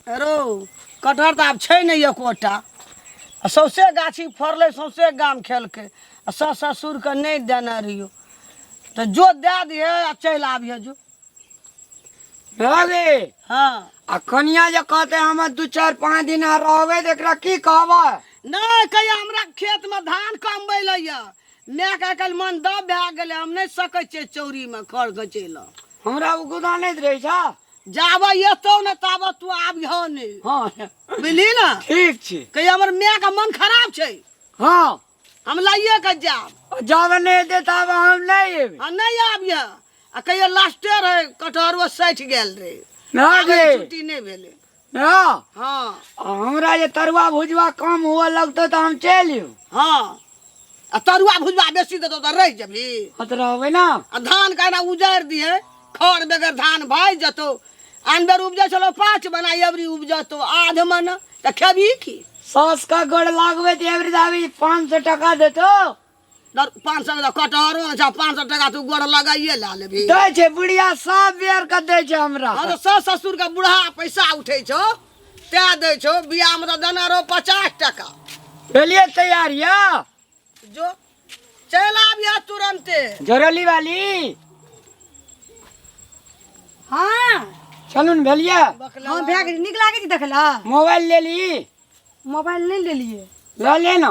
रौ कटहर तऽ आब छै नहि एकोटा आ सौंसे गाछी फड़लै सौंसे गाम खेलकै आ सस ससुरके नहि देने रहियो तऽ जो दए दिहे आ चलि आबिहे जो रे हँ आ कनिया जे कहते हम दू चारि पाँच दिन रहबै तऽ एकरा की कहबै नहि कहिया हमरा खेतमे धान कमबै लए यऽ माएकेँ आइ काल्हि मन दब भए गेलै। हम नहि सकै छियै चौरीमे खढ़ घँचै लए। हमरा ओ गुदा नहि रहै छह। जाबे एतौ ने ताबे तू आबिहऽ नहि। हँ। बुझलिही ने? ठीक छै। कहिहऽ हमर माएके मन खराब छै। हँ। हम लइए कऽ जाएब। आ जाबे नहि एतै ताबे हम नहि एबै। हँ, नहि आबिहऽ। आ कहिहऽ लास्टे रहै, कटहरो सठि गेल रहै। हँ गे। आबैमे छुट्टी नहि भेलै। हाँ हाँ आ हमरा जे तरुआ भुजवा कम हुआ लगते तो हम चलि यू हाँ आ तरुआ भुजवा बेसी देतो तो रह जबी हाँ तो रहबे ना आ धान कहना उजारि दिए खर बेगर धान भाइ जतो आन बेर उपजै छलो पाँच बना एवरी उपजतो आध मन तऽ खेबही की सास का गोड़ लागबे तो एवरी दावी पाँच सौ टका देतो पाँच सौ कटहरो अच्छा पाँच सौ टका तू गोड़ लगाइए ला लेबी दै छै बुढ़िया सब बेर के दै छै हमरा हाँ तो सास ससुर के बुढ़ा पैसा उठे छो ते दै छो बियाह में तो देना रहो पचास टका भेलिए तैयार या जो चल आबिया तुरंते जोरली वाली हाँ चलू ने भेलिए हाँ भैया के निक लागे छै देखला मोबाइल ले ली मोबाइल नहीं ले लिए लऽ ले ना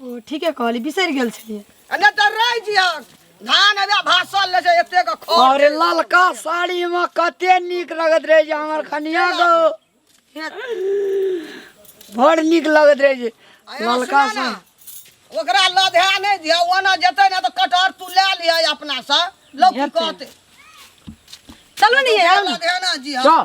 ओ ठीके कहली बिसरि गेल छलियै आ नहि तऽ रहि जियक धान अबे भाषण ले छै एतेक खो अरे ललका साड़ी में कते नीक लगत रहे जे हमर कनिया गो बड़ नीक लगत रहे जे ललका से ओकरा लधे नहि दिया ओना जेतै ने तऽ कटहर तू लए लिअ अपनासँ लोक की कहतै चलू ने ये लधे ना जिया चल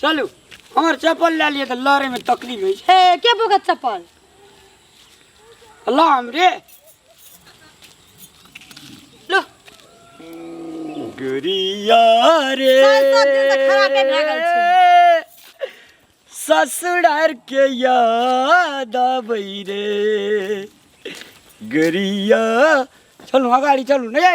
चलू हमर चप्पल लए लिए तऽ लड़े में तकलीफ होइ छै ए के बोगत चप्पल अल्लाह हमरे लो गुरिया रे सात सात दिन से खराबे भए गेल छै। ससुरार के याद आबै रे गुरिया चलू अगाडि चलू नै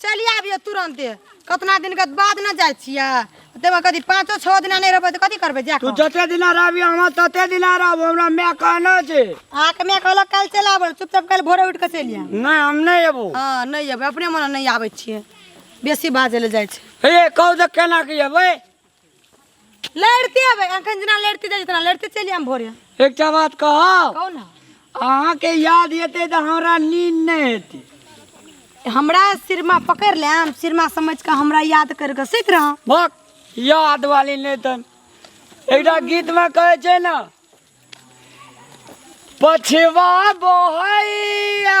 चलि आबियो तुरंते कतना दिन के बाद न जाय छिया तेमा कदी पांचो छह दिन नहीं रहबे त कथी करबे जा तू जते दिन रहबी हम तते दिन रहब हमरा मैं कहना छे आके मैं कहलो कल चल आबो चुपचाप कल भोरे उठ के चलि आ नहीं हम नहीं एबो हां नहीं आबे अपने मन नहीं आबे छिए बेसी बाजे ले जाय छै हे कहू त केना के एबै लड़ते आबे अखन जेना लड़ते जाइ जेतना लड़ते चलि आम भोरे एकटा बात कहब कहू ने अहाँके याद हेतै तऽ हमरा नींद नहि हेतै हमरा सिरमा पकड़ लेम सिरमा समझ के हमरा याद कर के सुत रह भक याद वाली नहि तन एकटा गीतमे कहै छै ने पछवा बहैया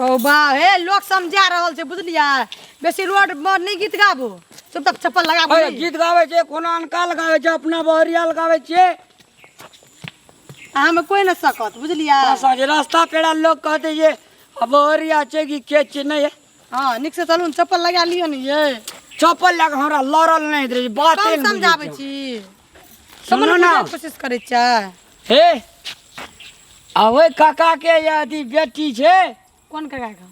ओ बा हे लोग समझा रहल छै बुझलियै बेसी रोड पर नहि गीत गाबू चुपचाप चप्पल लगाबू अरे गीत गाबै छै कोनो अनका लगाबै छै अपना बहरिया लगाबै छियै अहाँमे कोई नहि सकत बुझलियै आ साँझ रास्ता पेड़ा लोग कहते ये आ बहरिया छै कि के छै नहि है। हाँ नीक से चलू ने चप्पल लगा लियो ने ये चप्पल लग हमरा लड़ल नहि दे बाते कम नहि बुझै समझाबै छै। छी सुनो समन ना बुझाय कोशिश करै छै हे आ ओहि काका के ये अथी बेटी छै कोन काका के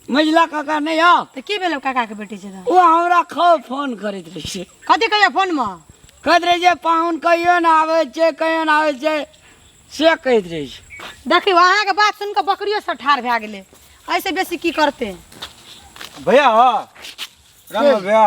मझिला काका नहि यऽ तऽ की भेलै काका के बेटी छै तऽ ओ हमरा खूब फोन करैत रहै छै कथी कहैया फोन मे कहैत रहै छै पाहुन कहियो ने आबै छै कहियो ने आबै छै से कहैत रहै छै देखियौ अहाँके बात सुनि कऽ बकरियो सब ठाढ़ भए गेलै ऐसे बेसी की करते भैया हो राम भैया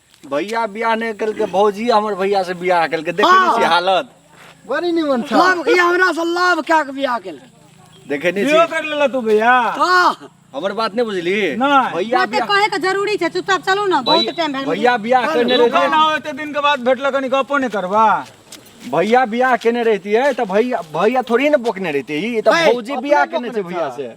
भैया बियाह नहि केलकै भौजी हमर भैया से बियाह केलकै देखे नहि छी हालत बड़ी निमन छौ लाभ ई हमरा से लाभ कए के बियाह केलकै देखे नहि बियो छी कर लेला तू भैया हँ हमर बात नहि बुझली नहि। भैया बाते बियाह कहे के जरूरी छै चुपचाप चलू ना बहुत भैया- टाइम भेल भैया बियाह केने तू कहना रहती हो एते दिन के बाद भेटलक कनी गपो नहि करबा भैया बियाह केने रहती है तो भैया भैया थोड़ी ना बोकने रहती ई तो भौजी बियाह केने छै भैया से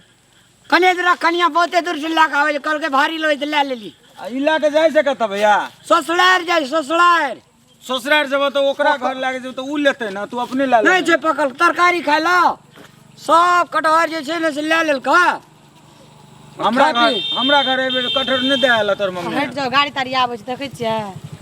कने दूर कनिया बहुते दूर से लए के आबै छै कहलकै भारी लेबै तऽ लए लेली आ ई लए के जाइ छै कतऽ भैया ससुरार जाइ ससुरार ससुरार जेबो तऽ ओकरा घर लए के जेबो तऽ ऊ लेतै ने तू अपने लए नहि ले छै पकल तरकारी खाय लऽ सब कटहर जे छै ने से लए लेलकै हमरा घर हमरा घर एबे कटहर नहि दे आयल तोर मम्मी हटि जाओ गाड़ी ताड़ी आबै छै देखै छियै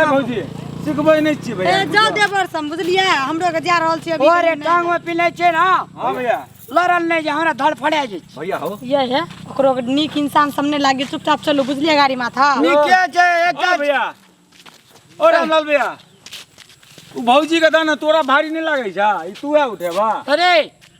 ए भौजी सिखबै नहि छियै ए भैया जा देवर सम बुझलियै हमरो के जा रहल छी अभी ओरे टांग में पिले छै ना हाँ भैया लड़ल नहीं जे हमरा धड़ फड़े जे छै भैया हो ये है ओकरो के नीक इंसान सामने लागे चुपचाप चलो बुझलियै गाड़ी माथा नीके छै ओ एकदम भैया ओ रामलाल भैया उ भौजी के दाना तोरा भारी नहीं लागे छा ई तू है उठेबा अरे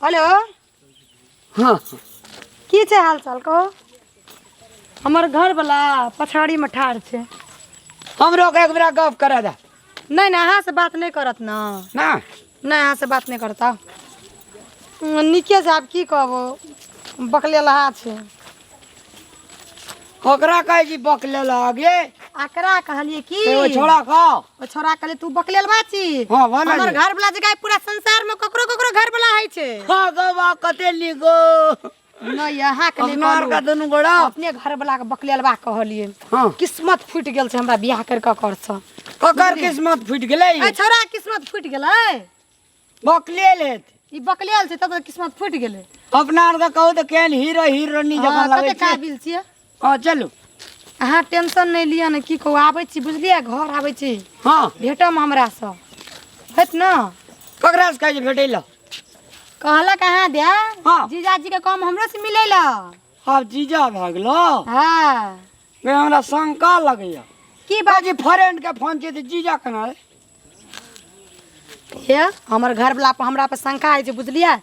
हेलो हँ की छै हाल चाल कहू हमर घरवला पछाड़ीमे ठाढ़ छै हमरो के एक बेरा गप करे दे नहि नहि अहाँसँ बात नहि करत ने ना नहि अहाँसँ बात नहि करत आउ। उम, नीके छै आब की कहबो बकले लहा छै ककरा कहै छी बक ले लग ये आकरा कहलिए की ए, ओ छोड़ा खाओ ओ छोरा कहले तू बकलेल बाची हाँ, वाला हमर जी। घर वाला जगह पूरा संसार में ककरो ककरो घर वाला है छे हाँ गो बा कते लिगो न यहाँ के नहीं अपनार का कहलू। दुनू गोड़ा अपने घर वाला के बकलेल बा कहलिए हाँ किस्मत फूट गेल छे हमरा बियाह कर के कर छ ककर किस्मत फूट गेलै ए छोरा किस्मत फूट गेलै बकले लेत ई बकलेल छै तब किस्मत फूट गेले अपना आरके कहू तऽ केहन हीरो हीरोनी जकाँ हाँ, लगै कते छै काबिल छियै हँ चलू अहाँ टेंशन नहीं लिया ने की कहू आबै छी बुझलियै घर आबै छी हँ भेटम हमरा से हेत न ककरा से कहै छै भेटै लए कहलक अहाँ दे हाँ। जीजाजी के काम हमरो से मिलै ल आब जीजा भए गेलो हाँ हमरा शंका लगैया की बात बाजी फ्रेंड के फोन छै तऽ जीजा केना रे हे हमर घरवला पर हमरा पर शंका होइ छै बुझलियै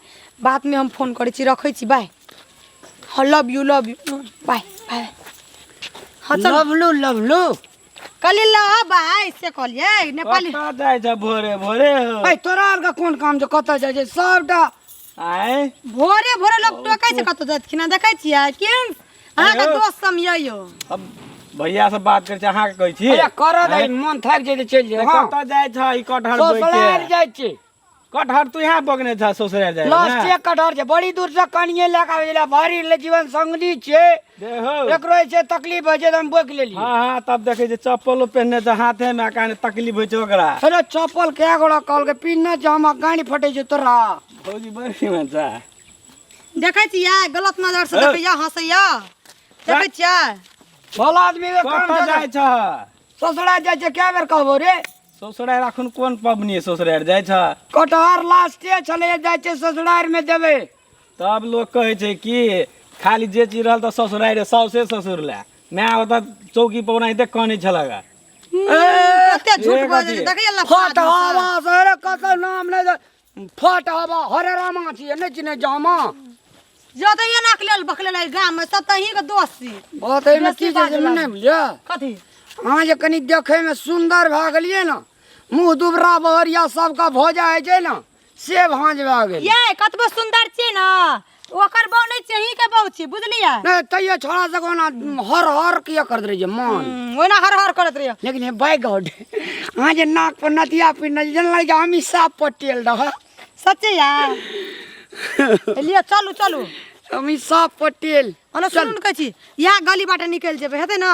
बादमे हम फोन करै छी रखै छी बाय हँ love you love you bye bye हँ चल लवलू लवलू कहली लव बाय से कहलियै नेपाली कतऽ जाइ छ भोरे भोरे हो ऐ तोरा आरके कोन काम छै कतऽ जाइ छै सबटा आय भोरे भोरे लोग टोकै छै कतौ जाइत कि ना देखै छियै केहन अहाँ के दोस्त हम ये यो अब भैया से बात करे अहाँ के कहै छी अरे कर दे मन थाक जे चल जे हां कत जाय छ ई कटहर बोइ के ससुराल जाय छी कटहर तू यहां बगने छ ससुराल जाय लास्ट एक कटहर जे बड़ी दूर से कनिए लग आवे ला भारी ले जीवन संगनी छे देखो एकरो से तकलीफ होय जे हम बोक लेली हां हां तब देखे जे चप्पल पहनने छ हाथे में काने तकलीफ होय छ ओकरा अरे चप्पल के गोड़ा कॉल के पिन न जे हम गाड़ी फटे जे तोरा भौजी बड़ी मन छ देखै छियै गलत नजर से देखैया हंसैया देखै छियै भला आदमी के काम कतऽ छै जाइ छ ससुरा जाइ छै कए बेर कहबो रे ससुरारि अखन कोन पबनी ससुरारि जाइ छ कटहर लास्टे छलै जाइ छै ससुरार में देबै तब लोग कहै छै कि खाली जे चीज रहल तऽ ससुरारि साउसे ससुर लए माय ओतऽ चौकी पर ओनाहिते कानै छलक कते झूठ एक बोलै अथी। छै देखैया लफा हट आदमी सब। हवा सरे कतौ नाम नहि दे फट हवा हरे रामा छी नहि चिने जामा जतैये नाक लेल बकलेल एहि गाम में सब तही के दोस्त छी बात एहिमे की छै से नहि बुझलियै कथी अहाँ जे कनि देखैमे सुन्दर भए गेलियै ने मुँह दुबरा बहरिया सबके भोजा होइ छै ने से भाँज भए गेल ये कतबो सुंदर छी न ओकर बहू नहीं चाहिए के बहू छी बुझलिए नहीं तैयो छोड़ा सको ना हर हर किया कर दे रही मन हम्म, ओना हर हर करत रहिए लेकिन हे बाय गॉड अहाँ जे नाक पर नथिया पिन्हल जेना लागि हम ही साफ पटेल रह सच्चे यार लिए चलू चलू हम ही साफ पटेल ओना सुनू ने कहै छी इएह गली बाटे निकलि जेबै हेतै ने